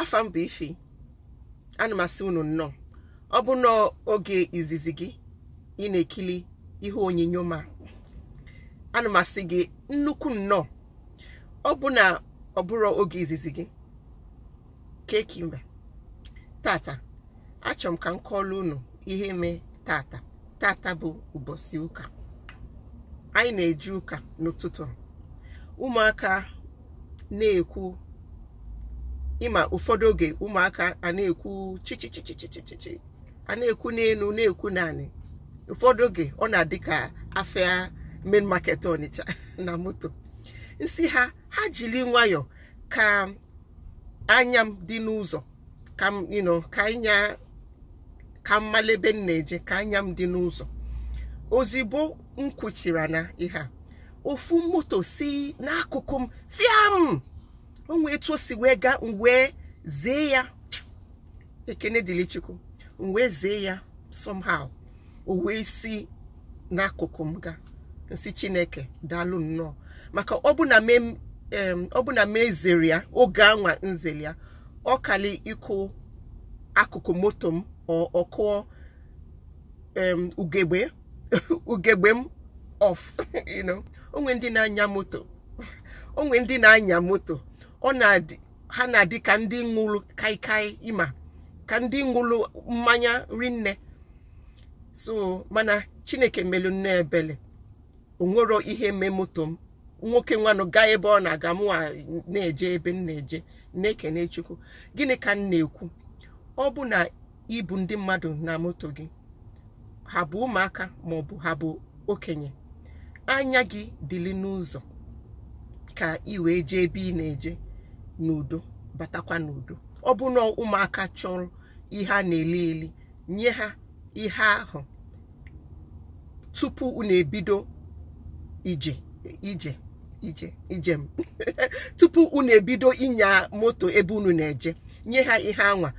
afa m bụ ify ana m asị unu nnọọ ọ bụ na oge izizi gị ị na-ekili ihe onyinyo m a ana m asị gị nnukwu nnọọ ọ bụ na ọ bụrọ oge izizi gị kee ka ị mee tata achọrọ m ka m kọọlụ unu ihe mee tata tata bụ ụbọsị ụka anyị na-eje ụka n'ụtụtụ ụmụaka na-ekwu ịma ụfọdụ oge ụmụaka a na-ekwu chichichichichichichi a na-ekwu n'enu na-ekwu n'anị ụfọdụ oge ọ na-adị ka afịa main market Ọnịcha na moto m sị ha ha jili nwayọọ ka anya m dị n'ụzọ ka m you know ka anya ka m malụ ebe m na-eje ka anya m dị n'ụzọ ozigbo m kwuchiri na ihe a ofu moto si n'akụkụ m fiam onwe etu o si wee gaa m wee zee ya ekene dịrị chukwu m wee zee ya somehow o wee si n'akụkụ m ga m sị chineke daalụ nnọọ maka ọ bụ na me em, ọ bụ na m ezero ya oge anwa m zere ya ọ kalị ịkụ akụkụ moto m ọ- ọ kụọ em, ugegbe ugegbe m off you know onwe ndị na-anya moto onwe ndị na-anya moto ọ na-adị ha na-adị ka ndị ṅụlụ kaikai ịma ka ndị ṅụlụ mmanya rinne so mana chineke melu nnọọ ebele onwero ihe mee moto m nwoke nwanụ gaa ebe ọ na-aga mụwa na-eje ebe m na-eje na-ekene chukwu gịnị ka m na-ekwu ọ bụ na i bu ndị mmadụ na moto gị ha bụ ụmụaka maọbụ ha bụ okenye anya gị dịlị n'ụzọ ka ị wee jee ebe ị na-eje n'udo batakwa n'udo ọ bụ na ụmụaka chọrọ ihe a na-eli eli nye ha ihe ahụ tupu unu ebido ije ije ije ijem tupu unu ebido ịnya moto ebe unu na-eje nye ha ihe anwa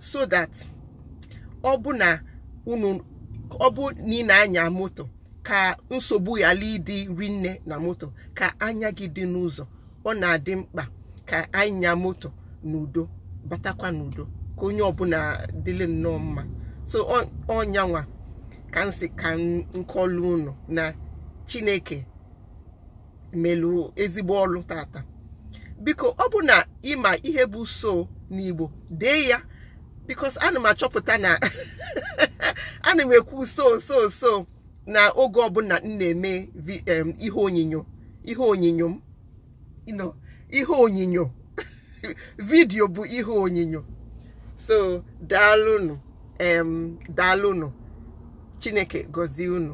so that ọ bụ na unu ọ bụ na ị na-anya moto ka nsogbu ghalụ ịdị rinne na moto ka anya gị dị n'ụzọ ọ na-adị mkpa ka anyị nya moto n'udo batakwa n'udo ka onye ọbụna dịlị nnọọ mma so ọ nyanwa ka m sị ka m kọọlụ unu na chineke melu ezigbo ọlụ tata biko ọ bụ na ị ma ihe bụ so n'igbo dee ya because ana m achọpụta na ana m ekwu so so so na oge ọbụla m na-eme ihe onyinyo ihe onyinyo m ihe onyinyo video bụ ihe onyinyo so daalụnụ em daalụnụ chineke gọzie unu